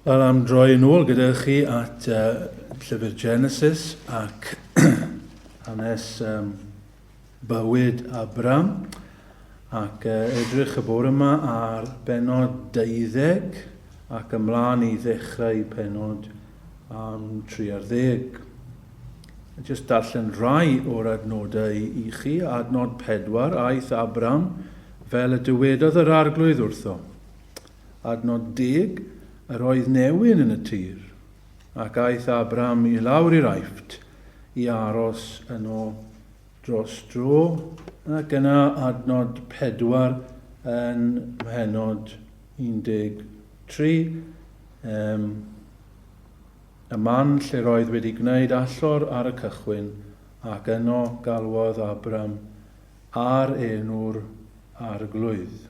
Wel, am droi yn ôl gyda chi at uh, llyfr Genesis ac hanes um, Bywyd Abram ac edrych y bore yma ar bennod 20 ac ymlaen i ddechrau pennod am 30. Jyst darllen rhai o'r adnodau i chi. Adnod 4, aeth Abram fel y dywedodd yr arglwydd wrtho. Adnod 10, yr oedd newyn yn y tir. Ac aeth Abram i lawr i'r Aifft, i aros yno dros dro, ac yna adnod 4 yn mhennod 13, ym y man lle'r oedd wedi gwneud allor ar y cychwyn, ac yno galwodd Abram Ar enw'r Arglwydd.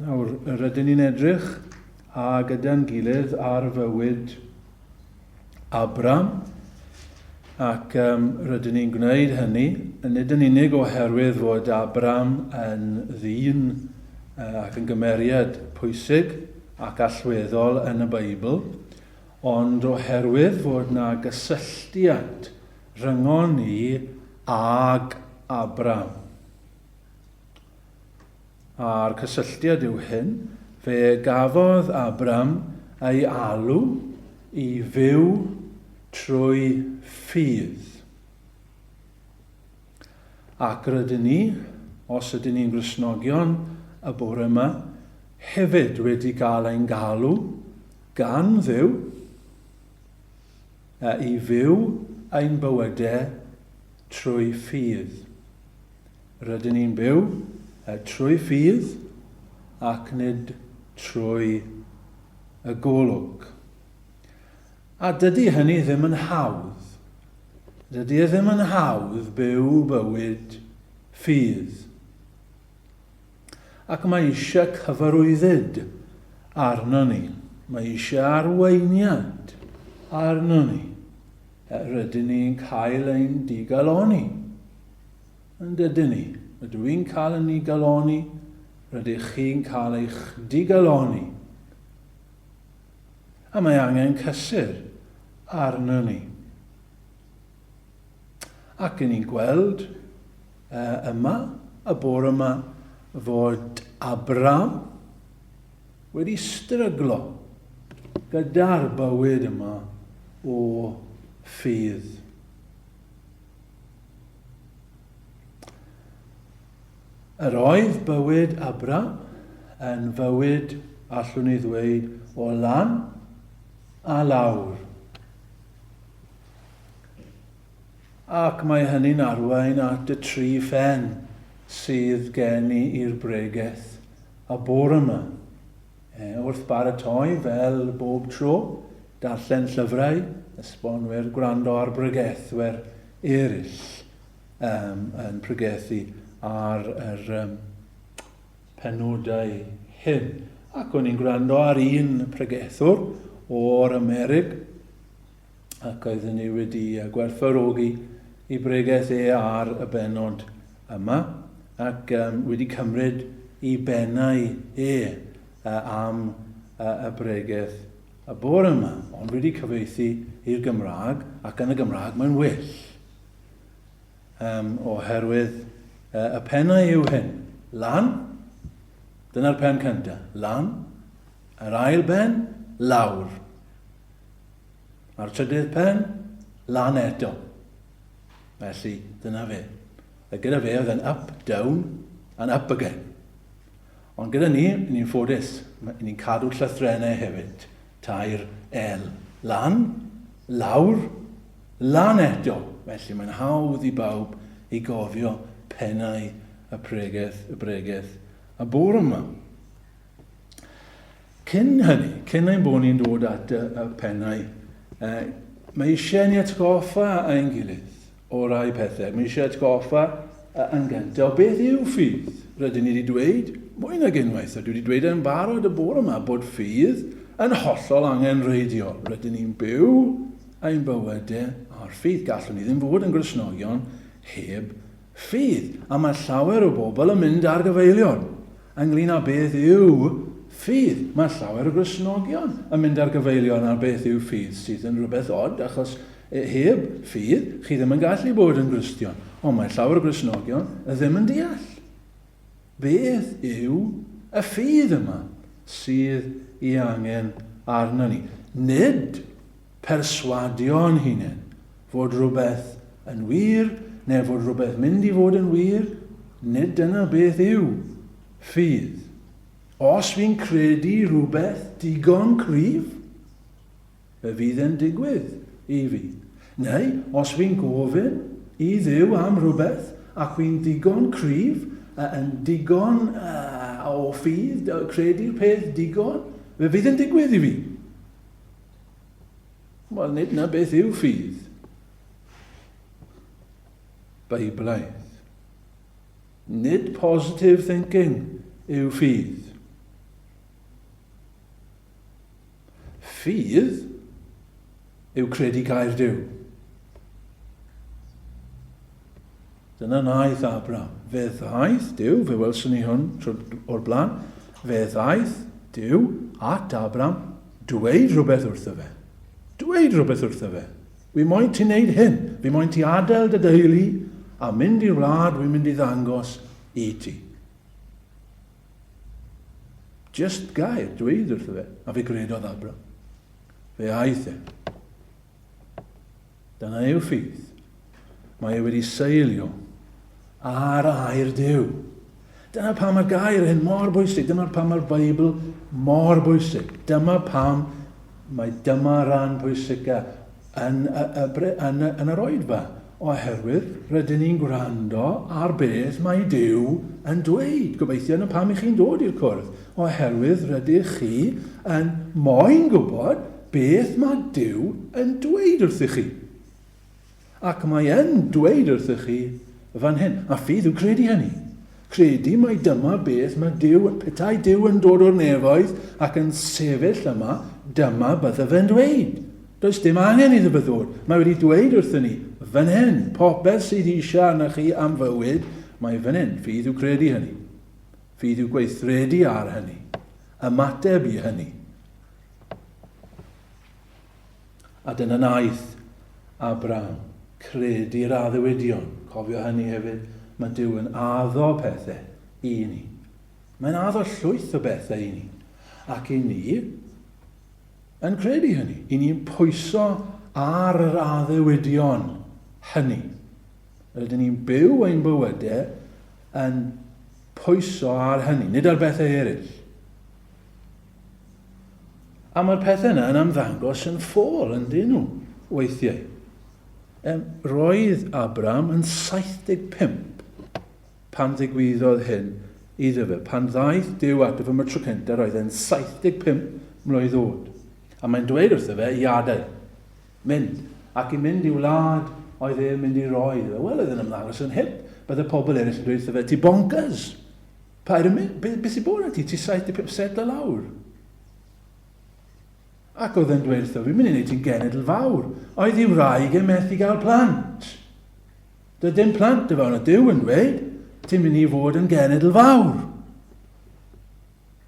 Nawr, rydyn ni'n edrych a gyda'n gilydd ar fywyd Abram, ac um, rydyn ni'n gwneud hynny, nid yn unig oherwydd fod Abram yn ddyn ac yn gymeriad pwysig ac allweddol yn y Beibl, ond oherwydd fod na gysylltiad Rhyngon ni ag Abram. A'r cysylltiad yw hyn, fe gafodd Abram ei alw i fyw trwy ffydd. Ac rydyn ni, os ydyn ni'n Gristnogion y bore yma, hefyd wedi cael ein galw gan Dduw A i fyw ein bywyde trwy ffydd. Rydyn ni'n byw trwy ffydd ac nid trwy y golwg. A dydy hynny ddim yn hawdd. Dydy e ddim yn hawdd byw bywyd ffydd. Ac mae eisiau cyfarwyddyd arnon ni. Mae eisiau arweiniad arnon ni. Rydyn ni'n cael ein digaloni. Yn dydyn ni. Rydw i'n cael yn digaloni. Rydych chi'n cael eich digaloni. A mae angen cysur arnon ni. Ac yn ni'n gweld yma y bore yma fod Abraham wedi stryglo gyda'r bywyd yma o ffydd. Yr oedd bywyd Abraham yn fywyd, allwn ni ddweud, o lan a lawr. Ac mae hynny'n arwain at y tri phen sydd gen i i'r bregeth y bore yma. E, wrth baratoi, fel bob tro, darllen llyfrau, esbonwyr, gwrando ar bregethwyr eraill um, yn pregethu ar yr um, penodau hyn. Ac o'n i'n gwrando ar un pregethwr o'r Amerig, ac oeddwn ni wedi gwerthfawrogi i bregeth e ar y benod yma ac um, wedi cymryd i benau e uh, am uh, y bregeth y bore yma, ond wedi cyfeithi i'r Gymraeg ac yn y Gymraeg mae'n well. Um, oherwydd uh, y penau yw hyn, lan, dyna'r pen cyntaf, lan, yr ail ben, lawr. Mae'r trydydd pen lan eto. Felly, dyna fe. A gyda fe oedd yn up, down, and up again. Ond gyda ni, ni'n ffodus, ni'n cadw llythrennau hefyd. Tair L. Lan, lawr, lan eto. Felly mae'n hawdd i bawb i gofio pennau y pregeth, y bregeth, y bwr yma. Cyn hynny, cyn ein bod ni'n dod at y pennau, mae eisiau ni atgoffa ein gilydd o rai pethau. Mae eisiau atgoffa yn gyntaf o beth yw ffydd. Rydyn ni wedi dweud mwy nag unwaith, a dwi wedi dweud e'n barod y bore yma, bod ffydd yn hollol angen reidio. Rydyn ni'n byw ein bywydau ar ffydd. Gallwn ni ddim fod yn Gristnogion heb Ffydd, a mae llawer o bobl yn mynd ar gyfeiliorn ynglŷn â beth yw ffydd. Mae llawer o Gristnogion yn mynd ar gyfeiliorn ar beth yw ffydd, sydd yn rhywbeth od, achos heb ffydd, chi ddim yn gallu bod yn Gristion. Ond mae llawer o Gristnogion ddim yn deall beth yw y ffydd yma sydd ei angen arnon ni. Nid perswadio'n hunain fod rhywbeth yn wir neu fod rhywbeth mynd i fod yn wir, nid dyna beth yw ffydd. Os fi'n credu rhywbeth digon cryf, fe fydd e'n digwydd i fi. Neu, os fi'n gofyn i Dduw am rhywbeth ac fi'n ddigon cryf, yn digon uh, o ffydd, credu'r peth digon, fe fydd e'n digwydd i fi. Wel, nid na beth yw ffydd. Beiblaidd. Nid positive thinking yw ffydd. Ffydd yw credu gair Dyw. Dyna wnaeth Abram. Fe ddaeth Duw, fe welson ni hwn o'r blaen, fe ddaeth Duw at Abram, dweud rhywbeth wrtho fe. Dweud rhywbeth wrtho fe. Fi moyn ti'n neud hyn, fi moyn ti adael dy deulu a mynd i'r wlad wy'n mynd i ddangos i ti. Just gair, dweud wrtho fe, a fe gredodd Abram. Fe aeth e. Dyna yw ffydd. Mae e wedi seilio ar air Duw. Dyna pam mae'r gair hyn mor bwysig. Dyna pam mae'r Beibl mor bwysig. Dyma pam mae dyma ran pwysica yn, y, y, yn, yn yr oed fa. Oherwydd rydyn ni'n gwrando ar beth mae Duw yn dweud, gobeithio, 'na pam 'y chi'n dod i'r cwrdd, oherwydd rydych chi yn moyn gwybod beth mae Duw yn dweud wrthych chi. Ac mae yn dweud wrthych chi fan hyn, a fydd, yw credu hynny. Credu mai dyma beth mae Duw, petai Duw yn dod o'r nefoedd ac yn sefyll yma, dyma bydda fe'n dweud. Does dim angen iddo byddwr, mae wedi dweud wrthyn ni, fan hyn, popeth sydd eisiau arna chi am fywyd, mae fan hyn, ffydd yw credu hynny. Ffydd yw gweithredu ar hynny. Ymateb i hynny. A dyna wnaeth Abraham, cred i'r addewidion. Cofio hynny hefyd, mae Duw yn addo pethau i ni. Mae'n addo llwyth o bethau i ni. Ac i ni yn credu hynny. I ni'n pwyso ar yr addewidion hynny. Rydyn ni'n byw ein bywydau yn pwyso ar hynny, nid ar bethau eraill. A mae'r pethau yna yn ymddangos yn ffôl yn dyn nhw, weithiau. Um, roedd Abram yn 75 pan ddigwyddodd hyn iddo fe. Pan ddaeth Dyw ato fy mytro cyntaf, roedd e'n 75 mlwydd oed. A mae'n dweud wrtho fe i adael, mynd, ac i mynd i wlad oedd e'n mynd i roi iddo fe. Wel, oedd yn ymddangos yn hip. Bydde pobl eraill yn dweud wrtho fe, ti bonkers! Paid â mynd, be, be sy'n bod arna ti, ti 75, setlo lawr. Ac oedd e'n dweud wrtho fi, mynd i wneud ti'n genedl fawr. Oedd i wraig e methu gael plant. Doedd dim plant y fawn o Dyw yn dweud, ti'n mynd i fod yn genedl fawr.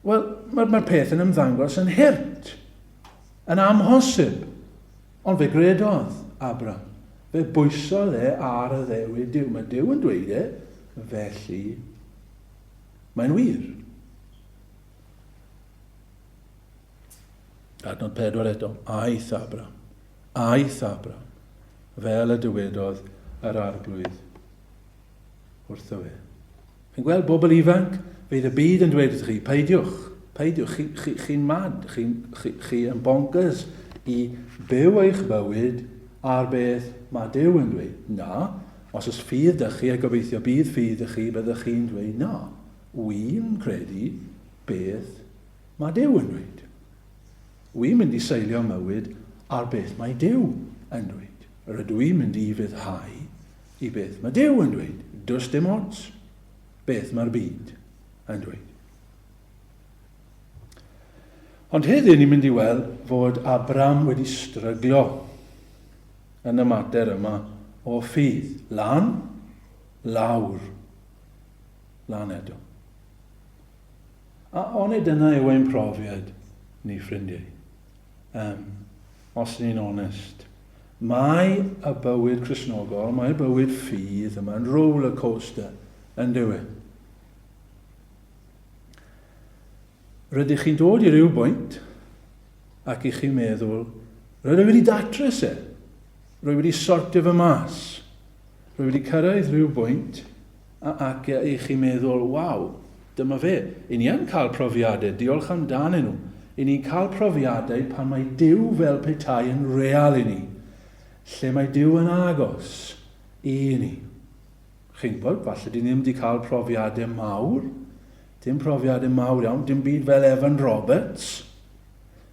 Wel, mae'r mae peth yn ymddangos yn hurt, yn amhosib. Ond fe gredodd Abram, fe bwysodd e ar y Ddewi Duw. Mae Duw yn dweud e, felly mae'n wir. Adnod pedwar eto, aeth Abram, aeth Abram, fel y dywedodd yr arglwydd. wrtho fe. Chi'n gweld, bobl ifanc, fydd y byd yn dweud wrthych chi, peidiwch, peidiwch, chi'n chi, chi, chi mad, chi'n chi, chi yn bonkers i byw eich bywyd ar beth mae Dyw yn dweud. Na, os ys ffydd dych chi, a gobeithio bydd ffydd dych chi, byddwch chi'n dweud na. Wy'n credu beth mae Dyw yn dweud. Wy'n mynd i seilio mywyd ar beth mae Dyw yn dweud. Rydw i'n mynd i fyddhau i beth mae Duw yn dweud, does dim ots beth mae'r byd yn dweud. Ond heddiw ni'n mynd i weld fod Abram wedi stryglo yn y mater yma o ffydd. Lan, lawr, lan eto. A onid dyna yw ein profiad ni, ffrindiau? Um, Os ni'n onest, mae y bywyd Cristnogol, mae'r bywyd ffydd yma'n roller coaster, yndyw e? Rydych chi'n dod i ryw bwynt ac i chi meddwl, rydw i wedi datrys e, rwy wedi sortio fy mas, rwy wedi cyrraedd rhyw bwynt Ac y'ch chi'n meddwl, 'Waw, dyma fe. Y ni yn cael profiadau, diolch amdanyn nhw. Y ni'n cael profiadau pan mae Duw fel petai yn real i ni, lle mae Duw yn agos i ni. Chi'n gwybod, falle dyn ni ddim wedi cael profiadau mawr, dim profiadau mawr iawn, dim byd fel Evan Roberts,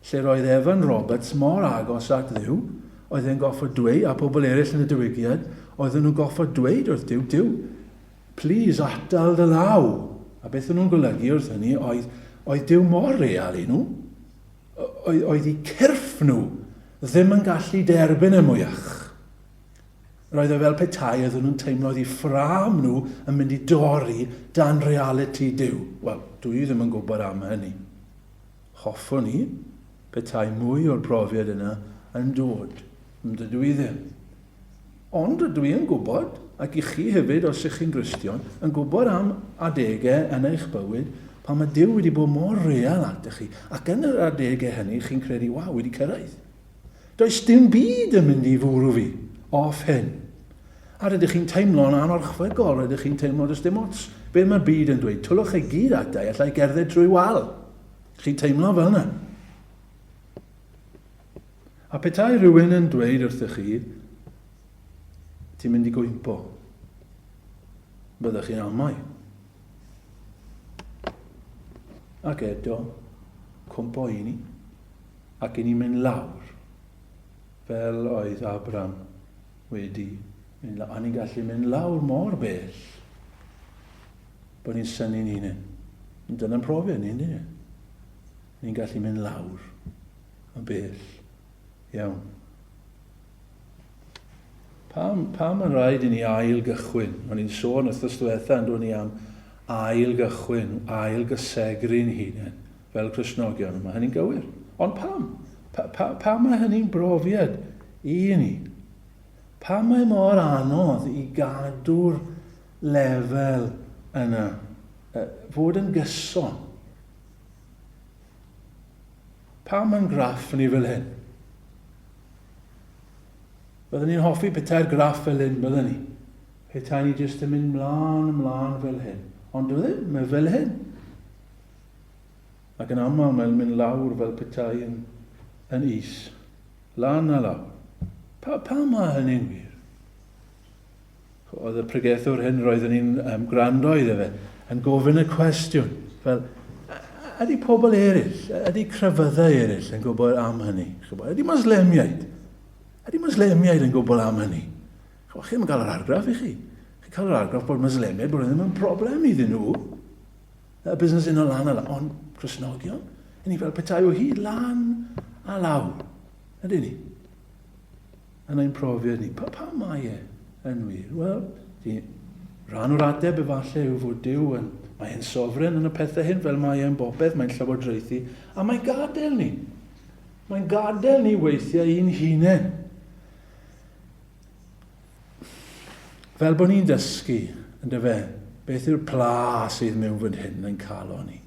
lle roedd Evan Roberts mor agos at Dduw, oedd e'n goffod dweud, a pobl eraill yn y diwygiad, oedden nhw'n goffod dweud wrth Duw, Duw, please atal dy law. A beth o'n nhw'n golygu wrth hynny oedd, oedd Duw mor real i nhw, oedd, oedd i cyrff nhw ddim yn gallu derbyn y mwyach. Roedd e fel petai oedden nhw'n teimlo oedd i ffram nhw yn mynd i dorri dan reality Duw. Wel, dwi ddim yn gwybod am hynny. Hoffwn i, petai mwy o'r profiad yna yn dod, ond dydw i ddim. Ond rydw i yn gwybod, ac i chi hefyd os ych chi'n Gristion, yn gwybod am adegau yn eich bywyd pan mae Duw wedi bod mor real atoch chi, ac yn yr adegau hynny chi'n credu, waw, wedi cyrraedd. Does dim byd yn mynd i fwrw fi off hyn. A rydych chi'n teimlo'n anorchfygol, rydych chi'n teimlo does dim ots be mae'r byd yn dweud, twllwch chi gyd ata i, alla i gerdded trwy wal. Chi'n teimlo fel yna. A petai rhywun yn dweud wrthych chi, ti'n mynd i gwympo, byddwch chi'n amau. Ac eto, cwmpo i ni, ac i ni mynd lawr, fel oedd Abram wedi mynd lawr. A ni'n gallu mynd lawr mor bell, bod ni'n syni'n hunain. Dyna'n profiad ni, ynddi ni? Ni'n gallu mynd lawr yn bell iawn. Pam, pam mae'n rhaid i ni ail gychwyn? O'n i'n sôn wrthnos diwetha yn ni am ail gychwyn, ail gysegru'n hunain fel Cresnogion, mae hynny'n gywir. Ond pam? Pa, pa, pa mae hynny'n brofiad i ni? Pa mae mor anodd i gadw'r lefel yna, fod yn gyson? Pa mae'n graff ni fel hyn? Byddwn ni'n hoffi petai'r graff fel hyn, byddwn ni. Petai ni jyst yn mynd mlaen, ymlaen fel hyn. Ond dwi ddim, mae fel hyn. Ac yn aml mae'n mynd lawr fel petai yn, yn is. Lan a lawr. Pa, pa mae hynny'n wir? Oedd y pregethwr hyn, roeddwn i'n um, gwrando iddo fe, yn gofyn y cwestiwn, fel, ydy pobl eraill, ydy crefyddau eraill yn gwybod am hynny? Ydy Moslemiaid? Ydy Moslemiaid yn gwybod am hynny? Chwa, chi'n cael yr argraff i chi. Chi'n cael yr argraff bod Moslemiaid, bod ddim yn broblem iddyn nhw. Y busnes yn o lan a lan. Ond Cresnogion, yn ni fel petai o hyd lan a lawr. Ydy ni? Yn ein profiad ni, pa, pa mae e yn wir? Wel, di, rhan o'r adeb efallai yw fod Dyw yn, mae e'n sofren yn y pethau hyn fel mae e'n bopeth, mae'n llywodraethu, a mae'n gadael ni. Mae'n gadael ni weithiau i'n hunain. Fel bod ni'n dysgu, yn dyfe, beth yw'r pla sydd mewn fyd hyn yn cael o'n ni.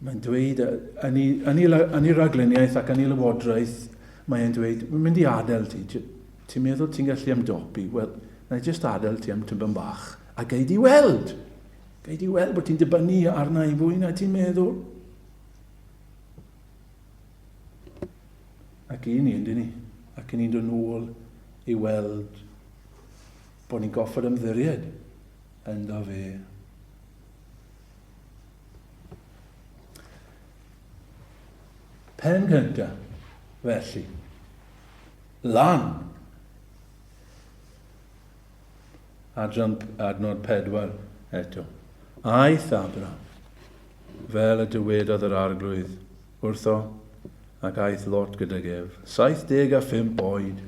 Mae'n dweud, yn ei, yn ei, yn ei raglenniaeth ac yn ei lywodraeth, mae e'n dweud, mae'n mynd i adael ti. Ti'n meddwl ti'n gallu ymdopi? Wel, na i jyst adael ti am tymban bach. A gei di weld! Gei di weld bod ti'n dibynnu arna i fwy na ti'n meddwl. Ac i ni, yndyn ni? Ac i ni'n dod nôl i weld bod ni'n goffod ymddiried ynddo fe. Pen gynta, felly. Lan! Adran, adnod pedwar eto. Aeth Abra, fel y dywedodd yr arglwydd, wrtho, ac aeth lot gydag ef. 75 oed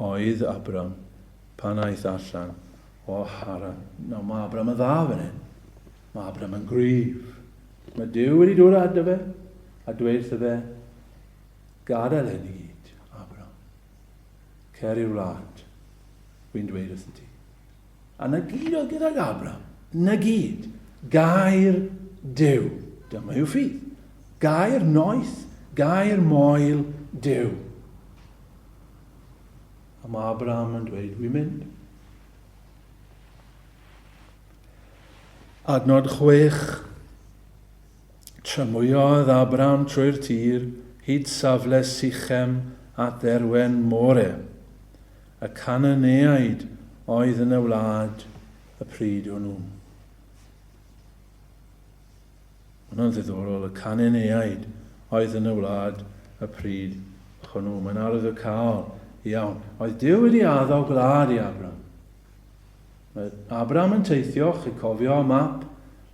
oedd Abram pan aeth allan O, Haran, nawr mae Abram yn dda fan hyn. Mae Abram yn gryf. Mae Duw wedi dod â fe, a dweud wrtho fe, gadael hyn i gyd, Abram. Cer i'r wlad, wy'n dweud wrtho ti. A na gyd oedd gydag Abram, na gyd, gair Duw. Dyma yw ffydd. Gair noeth, gair moel Duw. A mae Abraham yn dweud, dwi'n mynd. Adnod chwech. Trymwyodd Abraham trwy'r tir, hyd safle Sichem at dderwen More, y Cananeaid oedd yn y wlad y pryd hwnnw. Mae'n ddiddorol y Cananeaid oedd yn y wlad y pryd hwnnw. Mae'n arwyddocaol iawn. Oedd Duw wedi addo gwlad i Abram? Mae Abram yn teithio, chi'n cofio y map,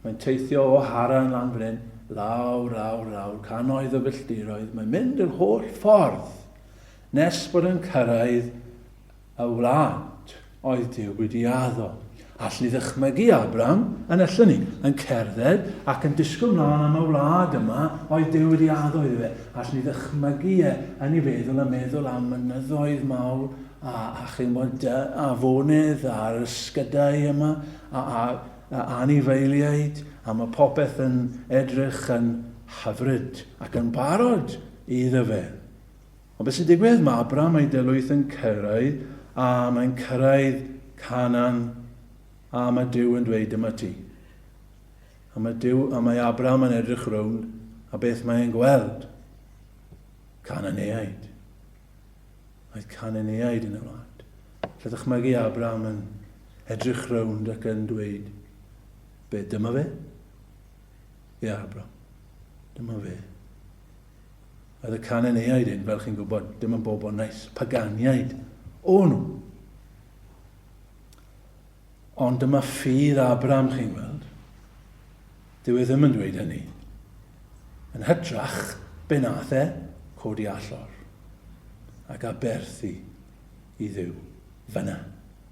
mae'n teithio o Haran lan fan hyn, lawr, lawr, lawr, canoedd o filltiroedd, mae'n mynd yr holl ffordd nes bod yn cyrraedd y wlad oedd Duw wedi addo. Alli ddychmygu Abram yn y llyni, yn cerdded ac yn disgwyl mlaen am y wlad yma oedd Duw wedi addo iddo fe. Alli ddychmygu e yn ei feddwl yn meddwl am mynyddoedd mawr a, a chymod, afonydd a'r ysgydau yma a, a, a anifeiliaid a mae popeth yn edrych yn hyfryd ac yn barod iddo fe. Ond beth sy'n digwydd? Mae Abram a'i deuluoedd yn cyrraedd, a mae'n cyrraedd Canan, a mae Duw yn dweud, dyma ti. A mae Duw, a mae Abram yn edrych rownd, a beth mae e'n gweld? Cananeaid. Mae Cananeaid yn y wlad. Lle ddychmygu Abram yn edrych rownd ac yn dweud, be, dyma fe? Ie, Abram, dyma fe. Oedd y Cananeaid hyn, fel chi'n gwybod, dim yn bobl nais, paganiaid o nhw. Ond dyma ffydd Abram, chi'n gweld. Dyw e ddim yn dweud hynny. Yn hytrach, be nath e? Codi allor. Ac aberthu i ddiw. Fyna,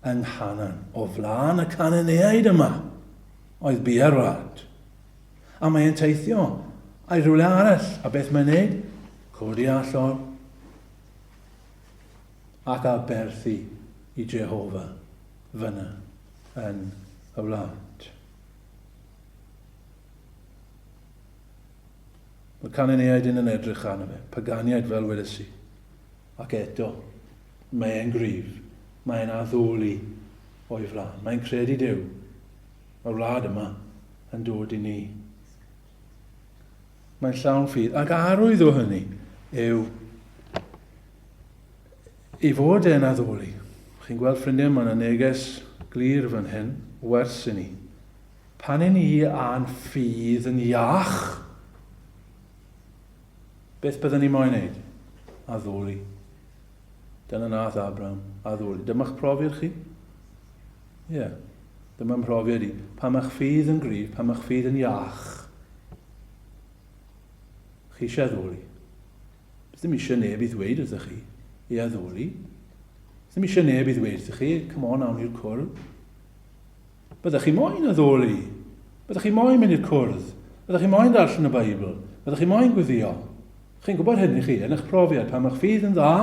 yng Nghanan, o flaen y Cananeaid yma, oedd bu ar wlad. A mae'n teithio I rhywle arall, a beth mae'n neud? Codi allor ac aberthu i Jehofa fyna yn y wlad. Mae Cananeaid yn yn edrych arno fe, paganiaid fel weles i. Ac eto, mae'n gryf, mae'n addoli o'i flaen, mae'n credu Duw, y wlad yma yn dod i ni. Mae'n llawn ffydd. Ac arwydd o hynny yw i fod e'n addoli. Chi'n gweld ffrindiau, mae'n yna neges glir fan hyn, wers i ni. Pan i ni a'n ffydd yn iach, beth byddwn ni moyn wneud? Addoli. Dyna nath Abram, a ddwyd, Dyma'ch profiad chi. Ie, yeah. dyma mhrofiad i. Pan mae'ch ffydd yn gryf, pan mae'ch ffydd yn iach, chi eisiau addoli. Bydd ddim eisiau neb i ddweud wrthych chi, i addoli. Bydd ddim eisiau neb i ddweud wrthych chi, come on, awn i'r cwrdd. Byddech chi moyn addoli? Byddech chi moyn mynd i'r cwrdd? Byddech chi moyn darllen y Beibl? Byddech chi moyn gweddio? Chi'n gwybod hynny chi, yn eich profiad, pan mae'ch ffydd yn dda?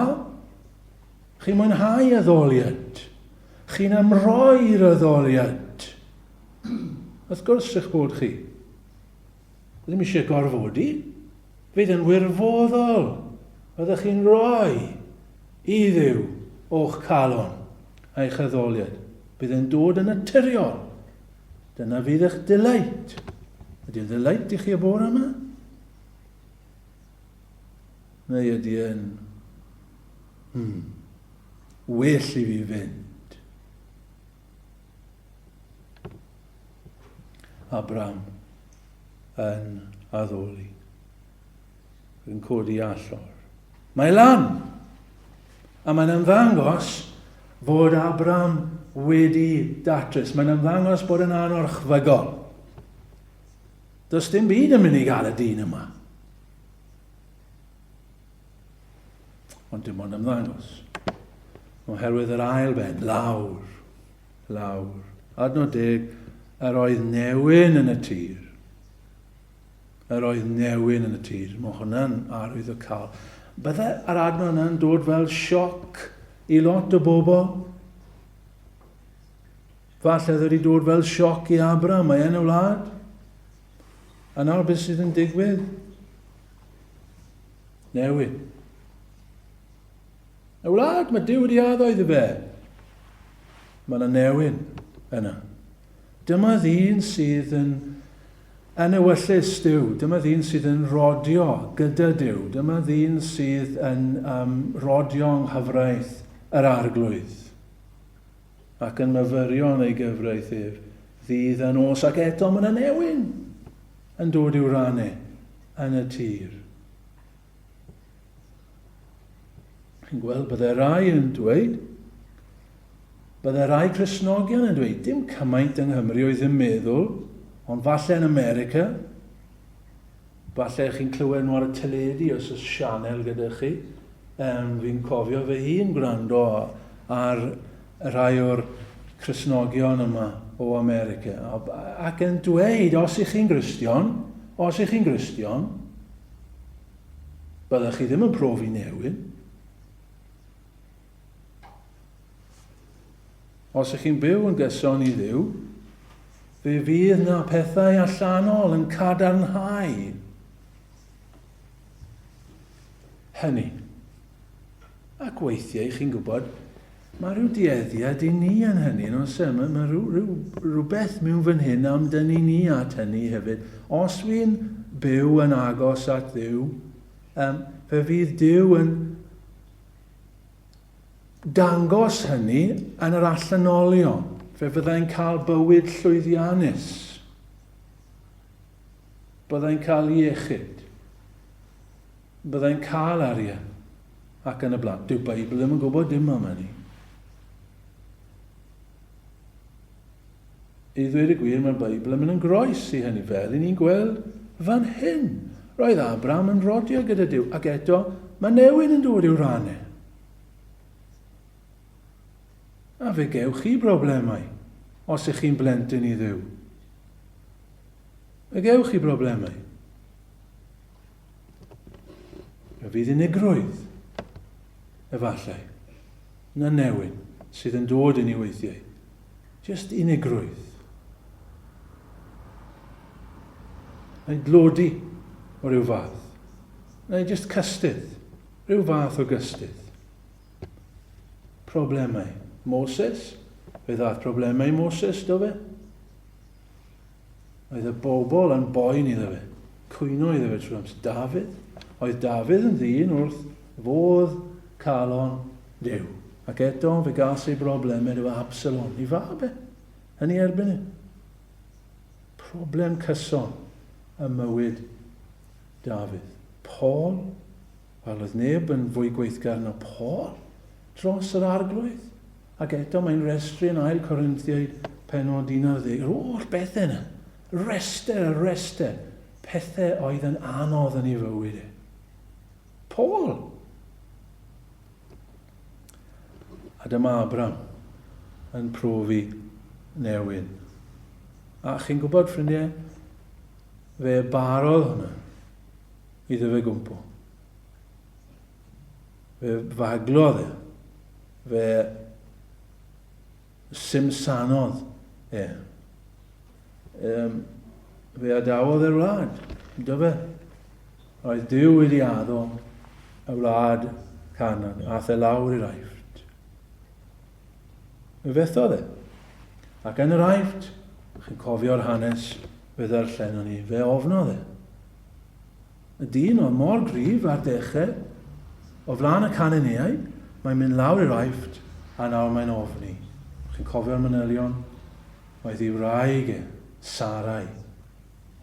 Chi'n mwynhau addoliad? Chi'n amroi'r addoliad? Wrth gwrs eich bod chi. Ddim eisiau gorfodi. Fydd yn wirfoddol. Byddwch chi'n rhoi i Dduw o'ch calon a'ch addoliad. Bydd yn dod yn naturiol. Dyna fydd eich delight. Ydy'n delight i chi y bore yma? Neu ydy yn... Hmm. Well i fi fynd. Abram yn addoli. Yn codi allor. Mae lan! A mae'n ymddangos fod Abram wedi datrys. Mae'n ymddangos bod yn anorchfygol. Does dim byd yn mynd i gael y dyn yma. Ond dim ond ymddangos. Oherwydd yr ail ben, lawr, lawr. Adnod deg, yr oedd newyn yn y tir. Yr oedd newyn yn y tir. Mae hwnna'n arwydd o cael. Bydde yr adnod yna'n dod fel sioc i lot o bobl. Falle ddod i dod fel sioc i Abra, mae yn y wlad. A nawr beth sydd yn digwydd? Newid. Y wlad, mae Duw wedi addo iddo fe. Mae yna newid yna. Dyma ddyn sydd yn yn ewyllus Duw. Dyma ddyn sydd yn rodio gyda Duw. Dyma ddyn sydd yn um, rodio yng nghyfraith yr arglwydd ac yn myfyrio yn ei gyfraith ef ddydd a nos ac eto mae yna newyn yn dod i'w rannu. yn y tir. Chi'n gweld, bydde rai yn dweud, bydde rai Cresnogion yn dweud, dim cymaint yng Nghymru oedd yn meddwl, ond falle yn America, falle chi'n clywed nhw ar y teledu os oes sianel gyda chi, um, fi'n cofio fy hun gwrando ar y rhai o'r Cristnogion yma o America, ac yn dweud, os ych chi'n Gristion, os ych chi'n Gristion, byddwch chi ddim yn profi newid. Os ych chi'n byw yn gyson i ddiw, fe fydd na pethau allanol yn cadarnhau Hynny. Ac weithiau, chi'n gwybod, mae rhyw dueddiad i ni yn hynny, yn oes e? Mae, mae rhyw, rhyw, rhywbeth mewn fan hyn am dyn ni ni at hynny hefyd. Os wy'n byw yn agos at ddiw, um, fe fydd Dyw yn dangos hynny yn yr allanolion. Fe fyddai'n cael bywyd llwyddiannus. Byddai'n cael iechyd. Byddai'n cael arian. Ac yn y blaen. Dyw Beibl ddim yn gwybod dim am hynny. I ddweud y gwir, mae'r Beibl yn mynd yn groes i hynny, fel i ni'n gweld fan hyn. Roedd Abraham yn rodio gyda Dyw, ac eto mae newid yn dod i'w rannu. A fe gewch chi broblemau os ych chi'n blentyn i Dduw. Fe gewch chi broblemau. Fe fydd unigrwydd, efallai, na newyn sydd yn dod i ni weithiau. Just unigrwydd. Neu dlodi o ryw fath. Neu just cystydd, rhyw fath o gystydd. Problemau. Moses? Fe ddaeth problemau Moses, do fe? Oedd y bobl yn boen iddo fe. Cwyno iddo fe trwy amser. Dafydd? Oedd Dafydd yn ddyn wrth fodd calon Duw. Ac eto, fe gas ei broblemau efo Absalom, i fab e. Yn ei erbyn e. Problem cyson ym mywyd Dafydd. Paul? Wel, oedd neb yn fwy gweithgar na Paul dros yr Arglwydd. Ac eto mae'n restru yn ail Corinthiaid penod 11, yr oll bethau yna. Rester a rester pethau oedd yn anodd yn ei fywyd e. Paul! A dyma Abram yn profi newyn. A chi'n gwybod, ffrindiau, fe barodd hwnna. Iddo fe gwmpo. Fe faglodd e. Fe simsanodd e. Um, fe adawodd e'r wlad. Iddo fe. Oedd Dyw wedi addo y wlad canan, a the lawr i'r aifft. Fe fethodd e. Ac yn yr aifft, chi'n cofio'r hanes fe ddarllenon ni, fe ofnodd e. Y dyn oedd mor gryf ar deche, o flan y caneneau, mae'n mynd lawr i'r Aifft a nawr mae'n ofni. Chi'n cofio'r manylion? Oedd ei wraig e, Sarai,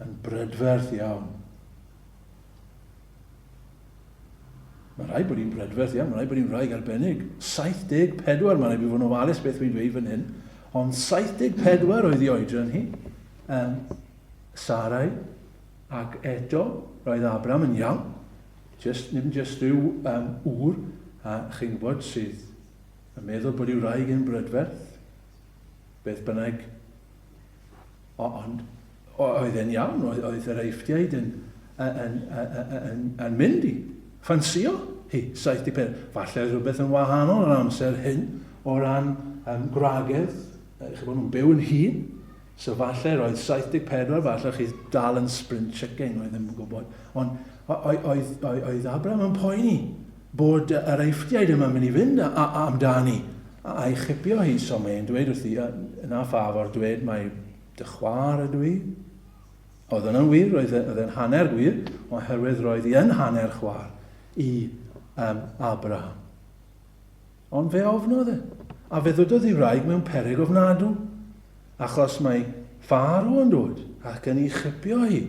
yn brydferth iawn. Mae rhaid bod hi'n brydferth iawn, mae rhaid bod hi'n wraig arbennig. 74, mae rhaid bod yn ofalus beth fi'n dweud fan hyn, ond 74 oedd ei oedran hi. Um, Sarai, Ac eto, roedd Abram yn iawn. Jyst, dim jyst rhyw um, ŵr, a chi'n gwybod, sydd yn meddwl bod ei wraig yn brydferth. Beth bynnag. O, ond oedd e'n iawn, oedd, oedd yr eifftiaid yn, yn, yn, yn, yn, yn mynd i ffansio hi, 74. Falle oedd rhywbeth yn wahanol yr amser hyn o ran um, gwragedd, chi'n bod nhw'n byw yn hun, So falle roedd 74, falle chi dal yn sprint chicken, roedd ddim yn gwybod. Ond oedd, oedd, oedd Abraham yn poeni bod yr eifftiaid yma'n mynd i fynd a, a, a amdani a'i chipio hi. So mae'n dweud wrthi, yna ffaf o'r dweud mae dy chwar ydw i. Oedd yna'n wir, roedd e, e'n hanner gwir, oherwydd roedd hi yn hanner chwar i um, Abraham. Ond fe ofnodd e, a fe ddododd ei wraig mewn peryg ofnadw, achos mae Faro yn dod ac yn ei chipio hi,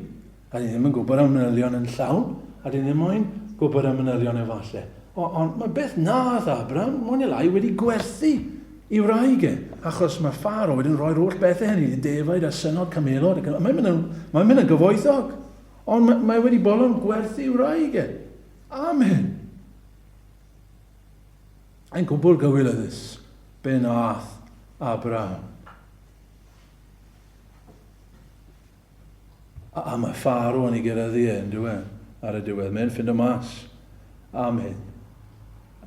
a dyn ni ddim yn gwybod am manylion yn llawn, a dyn ni ddim moyn gwybod am manylion efallai. O, ond mae beth nath Abram, mwy neu lai, wedi gwerthu i wraig e, achos mae Faro wedyn yn rhoi'r holl bethau hynny i defaid a synod camelod, ac mae'n mynd yn, mae'n mynd yn gyfoethog. Ond mae, mae wedi bolon gwerthu i wraig e. Amen. Yn gwbl gywilyddus, be wnaeth Abraham? A, a mae Pharo yn ei gyrraeddu e, yn diwe, ar y diwedd. Mae'n ffind o mas am hyn.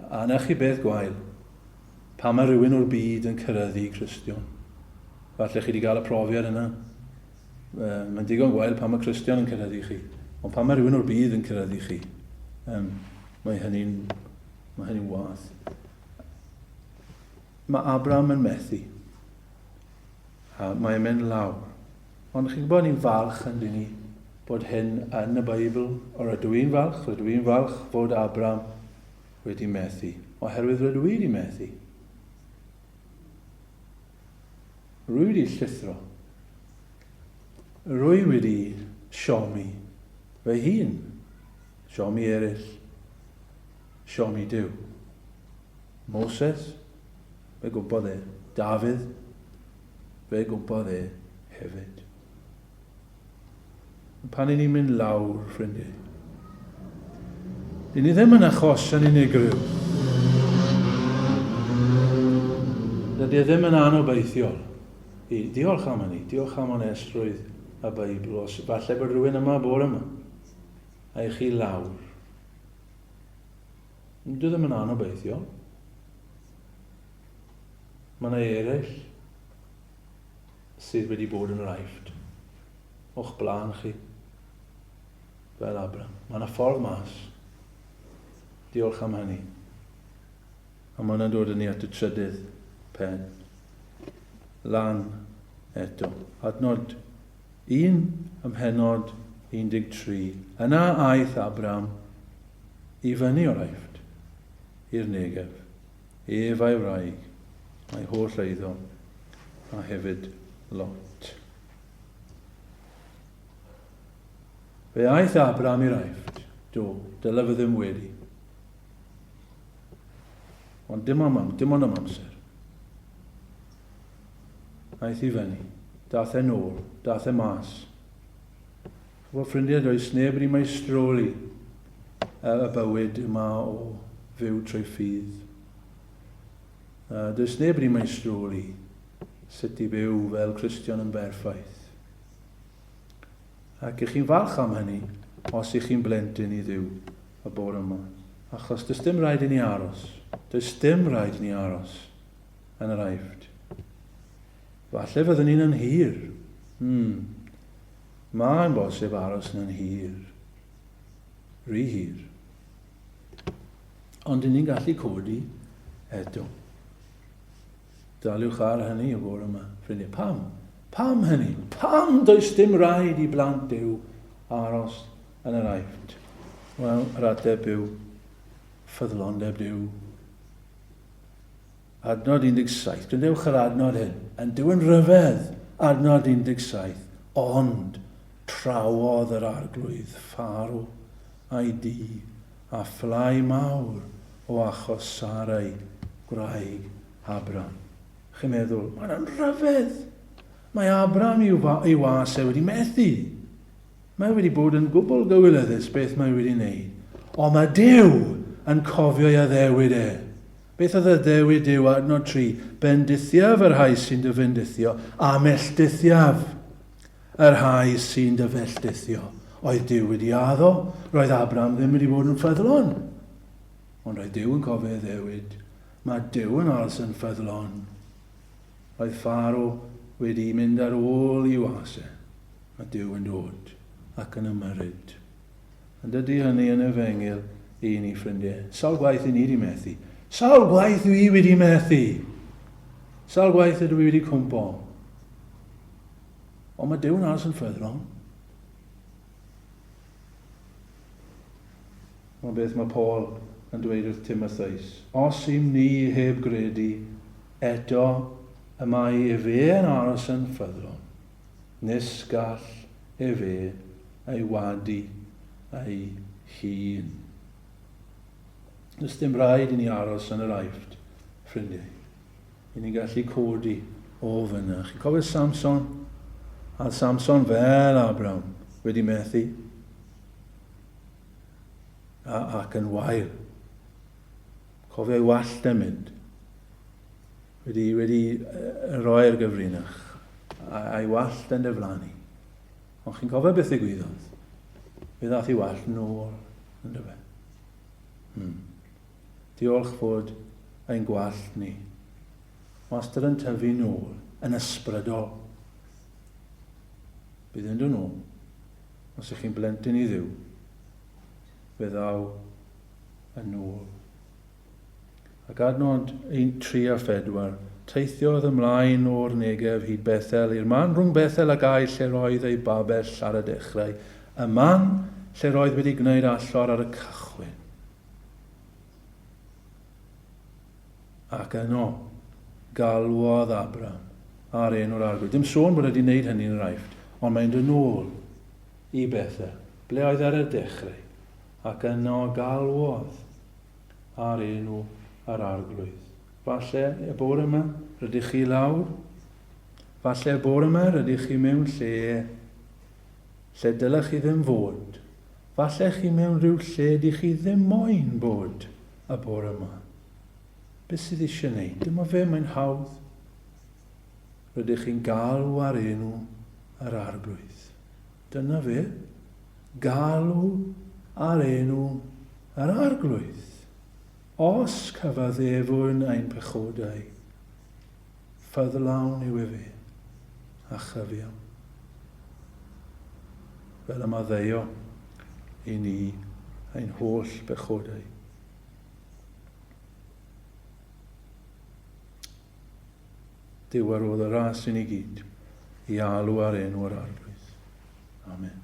A na chi beth gwael, pa mae rhywun o'r byd yn cyrraeddu Cristion. Falle chi wedi cael y profiad yna. Ehm, mae'n digon gwael pan mae Cristion yn cyrraedd i chi. Ond pan mae rhywun o'r byd yn cyrraedd i chi, ehm, mae hynny'n mae hynny'n wath. Mae Abraham yn methu. A mae'n mynd lawr. Ond chi'n gwybod ni'n falch yn dyn ni bod hyn yn y Beibl, o'r rydw i'n falch, rydw i'n falch fod Abram wedi methu, oherwydd rydw i wedi methu. Rwydi llithro. Rwy wedi siomi fy hun, siomi eraill, siomi Duw. Moses, fe gwmpodd e. Dafydd, fe gwmpodd e hefyd. Pan i ni'n mynd lawr, ffrindiau. Dyn ni ddim yn achosion unigryw. Dydy e ddim yn anobeithiol i ddiolch am hynny, diolch am onestrwydd y Beibl, os falle bod rhywun yma bore yma, a i chi lawr. Dwi ddim yn anobeithiol. Mae yna eraill sydd wedi bod yn yr aifft o'ch blaen chi fel Abram. Mae yna ffordd mas. Diolch am hynny. A mae yna'n dod yn ni at y trydydd pen. Lan eto. Adnod 1 ymhenod 13. Yna aeth Abram i fyny o'r aifft i'r negef. Ef a'i wraig, a'i holl eiddo, a hefyd Lot. Fe aeth Abram i'r aifft, do, dyle fe ddim wedi. Ond dim am, dim ond am amser. Aeth i fyny, dath e'n ôl, dath e mas. Fy ffrindiau does neb wedi maestroli y bywyd yma o fyw trwy ffydd. Does neb wedi maestroli sut i fyw fel Cristion yn berffaith. Ac ych chi'n falch am hynny os ych chi'n blentyn i ddiw y bore yma. Achos does dim rhaid i ni aros. Does dim rhaid i ni aros yn yr aifft. Falle fyddwn ni'n yn hir. Hmm. Mae'n bosib aros yn hir, rhy hir. Ond dyn ni'n gallu codi eto. Daliwch ar hynny y fore yma, ffrindiau. Pam? Pam hynny? Pam does dim rhaid i blant Duw aros yn yr aifft? Wel, yr ateb yw ffyddlondeb Duw. Adnod 17, Gwnewch yr adnod hyn. Yn Duw'n rhyfedd! Adnod 17, Ond trawodd yr Arglwydd Pharaw a'i dŷ â phlâu mawr o achos Sarai, gwraig Abram. Chi'n meddwl, Mae hwnna'n rhyfedd! Mae Abram i'w was e wedi methu! Mae wedi bod yn gwbl gywilyddus beth mae wedi wneud, ond mae Duw yn cofio'i addewid e. Beth oedd addewid Duw? Adnod 3, Bendithiaf y rhai sy'n dy fendithio, a melltithiaf y rhai sy'n dy felltithio. Oedd Duw wedi addo? Roedd Abram ddim wedi bod yn ffyddlon. Ond roedd Duw yn cofio addewid. Mae Duw yn aros yn ffyddlon. Roedd Pharo wedi mynd ar ôl i was e. a Duw yn dod ac yn ymyrryd. Ond ydy hynny yn efengyl i ni, ffrindiau? Sawl gwaith i ni wedi methu? Sawl gwaith dwi i wedi methu? Sawl gwaith ydw i wedi cwmpo? Ond mae Dyw'n aros yn ffyddlon. Mae beth mae Paul yn dweud wrth Timotheus. Os ym ni heb gredu, eto y mae efe yn aros yn ffyddlon. nes gall efe ei wadu ei hun. Does dim rhaid i ni aros yn yr Aifft, ffrindiau. I ni'n gallu codi o fyna. Chi'n cofio Samson? A Samson fel Abram wedi methu a, ac yn wael. Cofio ei wallt yn mynd. Wedi, wedi roi'r gyfrinach a'i wallt yn dyflanu. Ond chi'n cofio beth ddigwyddodd? Fe ddath i wallt yn ôl, yn dyfa. Hmm. Diolch fod ein gwallt ni. Wastad yn tyfu nôl, yn ysbrydol. Bydd yn dod nôl. Os ych chi'n blentyn i ddiw, fe ddaw yn ôl. Ac ar nod un, tri a phedwar, teithiodd ymlaen o'r Negev hyd Bethel, i'r man rhwng Bethel a Gai lle roedd ei babell ar y dechrau, y man lle roedd wedi gwneud allor ar y cychwyn. Ac yno, galwodd Abram ar enw'r arglwydd. Dim sôn bod wedi wneud hynny yn yr Aifft, ond mae'n dod nôl i Bethel, ble oedd ar y dechrau. Ac yno galwodd ar enw yr Arglwydd. Falle y bore yma rydych chi lawr. Falle y bore yma rydych chi mewn lle lle dylech chi ddim fod. Falle chi mewn rhyw lle dych chi ddim moyn bod y bore yma. Beth sydd eisiau wneud? Dyma fe, mae'n hawdd. Rydych chi'n galw ar enw yr Arglwydd. Dyna fe, galw ar enw yr Arglwydd, os cyfaddefwn ein pechodau, ffyddlawn yw efe, a chyfiawn. Fel y maddeio i ni ein holl bechodau. Dywerodd y ras i ni gyd i alw ar enw yr Arglwydd. Amen.